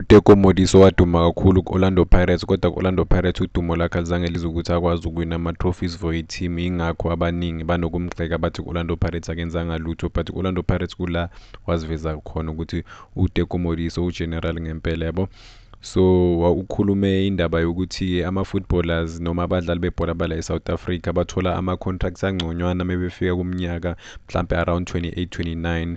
UTeko Modise owaduma kakhulu ku-Orlando Pirates kodwa ku-Orlando Pirates udumo lakhe alizange lize ukuthi akwazi ukuwina ama-trophies for i-team yingakho abaningi banokumgxeka bathi ku-Orlando Pirates akenzanga lutho but ku-Orlando Pirates kula waziveza khona ukuthi uTeko Modise ugeneral ngempela yabo so ukhulume indaba yokuthi ama-footballers noma abadlali bebhola bala e-south africa bathola ama-contracts angconywana mebefika kumnyaka mhlampe around 28 29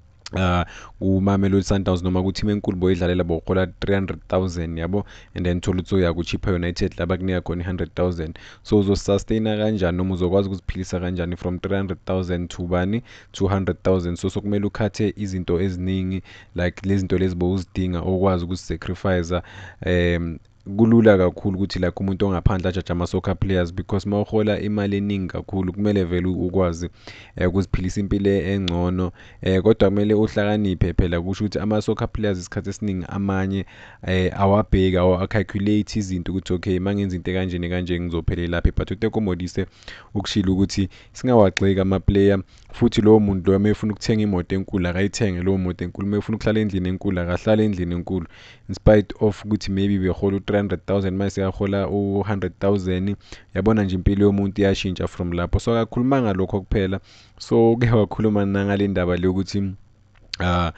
uh kumamelodi sundowns noma ku-team enkulu boyidlalela bohola 300000 yabo and then thola ukuthi uya ku-chipper united la bakunika khona i-100000 so uzosustaina kanjani noma uzokwazi ukuziphilisa kanjani from 300000 to bani 200000 so sokumele ukhathe izinto eziningi like lezi zinto lezi bowuzidinga okwazi ukuzisacrifice um kulula kakhulu ukuthi like umuntu ongaphandle ajaje ama-soccer players because uma uhola imali eningi kakhulu kumele vele ukwazi um eh, ukuziphilisa impilo engcono um kodwa kumele uhlakaniphe phela kusho ukuthi ama-soccer players isikhathi esiningi amanye um awabheki awa-calculate izinto ukuthi okay uma ngenza into ekanjeni kanje ngizophelelaphi but utekomodise ukushilo ukuthi singawagxeki amaplayer Futhi lowo muntu loyo uma efuna ukuthenga imoto enkulu akayithenge lowo moto enkulu uma efuna ukuhlala endlini enkulu akahlale endlini enkulu in spite of ukuthi maybe behola u-300000 manje sekahola u-100000 yabona nje impilo yomuntu iyashintsha from lapho so akakhulumanga lokho kuphela so uke wakhuluma nangale ndaba le ukuthi uh,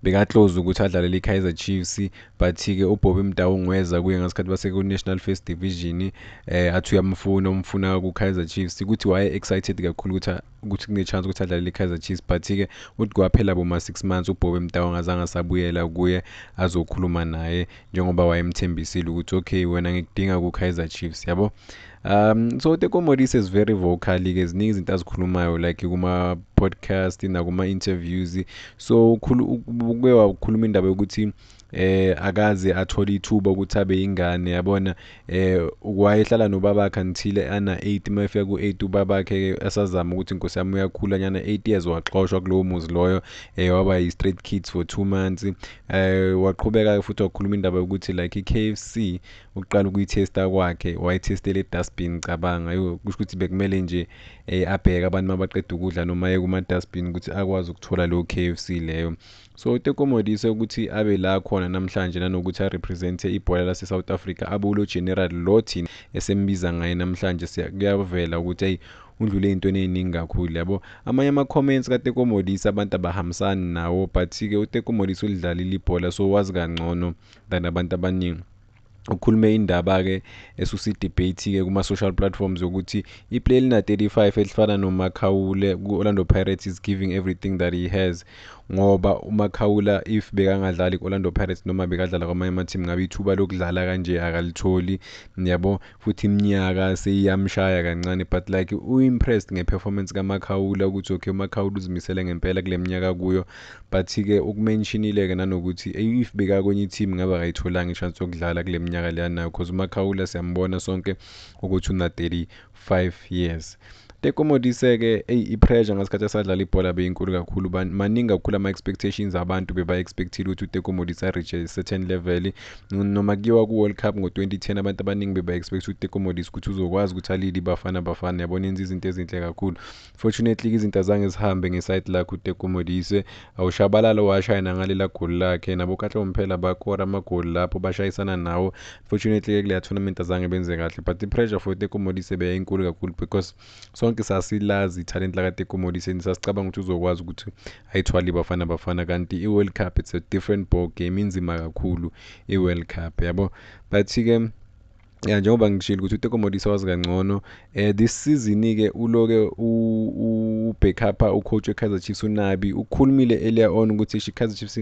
bekaclose ukuthi adlalele i-kaizer chiefs but-ke ubobby mdawu ngweza kuye ngesikhathi baseku-national first division um eh, athi uyamfuna umfuna ku-kaizer chiefs ukuthi waye-excited kakhulu ukuthi ukuthi kune-chance ukuthi adlalele i-kaizer chiefs but-ke uthi kwaphela boma-six months ubobby mdawu angazange asabuyela kuye azokhuluma naye njengoba wayemthembisile ukuthi okay wena ngikudinga ku-kaizer chiefs yabo um so tekomodis is very vocal-ke ziningi izinto azikhulumayo like kuma-podcast nakuma-interviews so uke wakhuluma indaba yokuthi eh akaze athole ithuba ukuthi abe ingane yabona eh wayehlala nobabakhe until ana 8 mayefika ku8 ubabakhe asazama ukuthi inkosi yami uyakhula nyana 8 years waxoshwa kulowo muzi loyo eh waba yi straight kids for 2 months eh waqhubeka futhi wakhuluma indaba yokuthi like iKFC ukuqala ukuyithesta kwakhe wayithestela edustbin cabanga yo kusho ukuthi bekumele nje eh, abheke abantu mabaqeda ukudla noma aye kuma-dustbin ukuthi akwazi ukuthola leyo k f c leyo so utekomodise ukuthi abe la khona namhlanje nanokuthi arepresente ibhola lase-south africa abe ulo general lo thina esembiza ngaye namhlanje kuyavela ukuthi ayi undlule ey'ntweni ey'ningi kakhulu yabo amanye ama-comments katekomodisi abantu abahambisani nawo but-ke utekomodisi ulidlalile ibhola so wazi kangcono than abantu abaningi ukhulume indaba-ke esusa i-debate-ke kuma-social platforms yokuthi iplay elina-35 elifana nomakhawule ku-orlando pirates is giving everything that he has ngoba umakhawula if bekangadlali ku-orlando pirates noma bekadlala kwamanye amathimu ngabe ithuba lokudlala kanje akalitholi niyabo futhi imnyaka seyiyamshaya kancane but like u impressed nge performance ka Makhawula ukuthi okay uMakhawula uzimisele ngempela kuleminyaka akuyo but ke ukumentionile ke nanokuthi if beka kwenye team ngabe akayitholanga ichance yokudlala kuleminyaka leyana because uMakhawula siyambona sonke ukuthi una 35 years Teko Modise ke eyi ipressure ngesikhathi asadlala ibhola beyinkulu kakhulu maningi kakhulu ama-expectations abantu beba-expectile ukuthi uteko Modise areache certain level noma kuyiwa ku-world cup ngo-2010 abantu abaningi beba-expect ukuthi uteko Modise ukuthi uzokwazi ukuthi alile ibafana bafana yabona enza izinto ezinhle kakhulu fortunately-ke izinto azange zihambe ngesayidi lakhe uteko Modise Awushabalala owashaye nangalila goli lakhe. NaboKatle Mphela bakora amagoli lapho bashayisana nawo. Unfortunately ke kuleya tournament azange benze kahle but i-pressure for Teko Modise beyayinkulu kakhulu because sonke sasilazi ithalent lakaTeko Modise and sasicabanga ukuthi uzokwazi ukuthi ayithwale iBafana Bafana kanti i-World Cup it's a different ball game inzima kakhulu i-World Cup yabo but ke ya njengoba ngishilo ukuthi uteko modisa wazi kangcono um this season-ke uloke ubackupa ucoach we-kaizer chiefs unabi ukhulumile earlier on ukuthi isho i-kaizer chiefs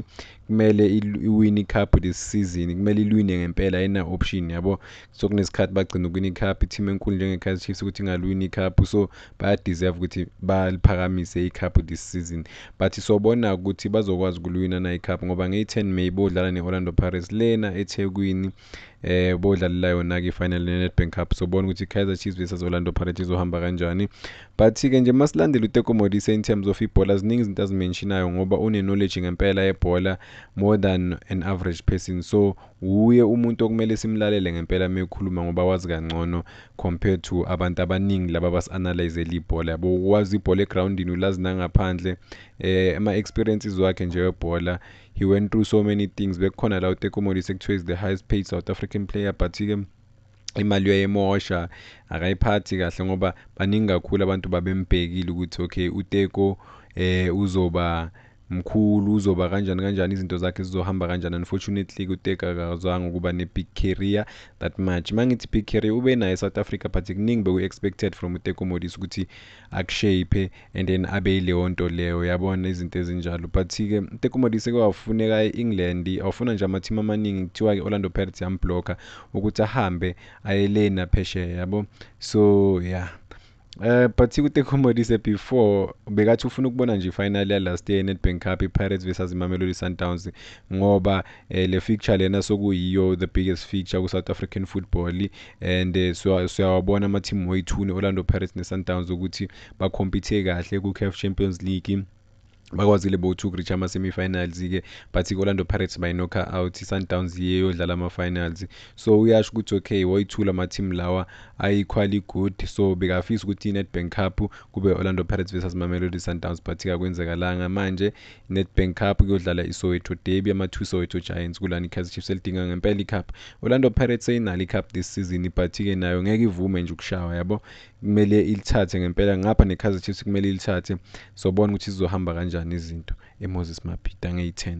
kumele iwine icup this season kumele ilwine ngempela ayina-option yabo so kunesikhathi bagcina ukwina icup i-team enkulu njenge-kaizer chiefs ukuthi ingalwini icup so bayadeserve ukuthi baliphakamise icup this season but sobona ukuthi bazokwazi ukulwina na icup ngoba ngeyi-10 may bodlala ne-orlando pirates lena ethekwini eh bodlalela yona ke final neNedbank Cup sobona ukuthi Kaizer Chiefs versus Orlando Pirates izohamba kanjani but ke nje masilandela uTeko Modise in terms of ibhola ziningi izinto azimentionayo ngoba une knowledge ngempela yebhola more than an average person so wuye umuntu okumele simlalele ngempela mekhuluma ngoba wazi kangcono compared to abantu abaningi laba basianalyze libhola yabo wazi ibhola egroundini ulazi nangaphandle eh ama experiences wakhe nje webhola he went through so many things bekukhona la utekomodis ekuthiwa is the highest paid south african player but-ke imali uyayimosha akayiphathi kahle ngoba baningi kakhulu abantu babembhekile ukuthi okay uteko eh uzoba mkhulu uzoba kanjani kanjani izinto zakhe zizohamba kanjani unfortunately kuteka akazwanga ukuba ne-big career that much uma ngithi big career ube nayo e-south africa but kuningi beku-expected from utekomodis ukuthi akushape and then abe ileyonto leyo yabona izinto ezinjalo but-ke tekumodi sekewafuneka e-england awufuna nje ama-team amaningi kuthiwa-ke orlando pirates yambhlokha ukuthi ahambe ayelena phesheya yabo so ya yeah. Uh, but kutekumodise before bekathi ufuna ukubona nje ifinal yalast year nedbank cup ipirates versus imamelodi sundowns ngoba eh, le fixture lena sokuyiyo the biggest fixture ku-south african football and eh, siyawabona ama-team wethu ne-orlando pirates ne-sundowns ukuthi bakhompithe kahle ku-caf champions league bakwazile bo to reach ama-semi-finals-ke but i-orlando pirates bayinokha out i-sundowns yiye yodlala ama-finals so uyasho ukuthi okay woyi-two la ma-team lawa ayi-quali good so bekafisa ukuthi i-nedbank cup kube orlando pirates versus mamelodi sundowns but kakwenzekalanga manje i-nedbank cup kuyodlala isoweto derby ama-two soweto giants kulani i-kaizer chiefs elidinga ngempela i-cup orlando pirates seyinalo i-cup this season but-ke nayo ngeke ivume nje ukushawa yabo kumele ilithathe ngempela ngapha ne-Kaizer Chiefs kumele ilithathe sobona ukuthi zizohamba kanjani izinto e-Moses Mabhida ngeyi-10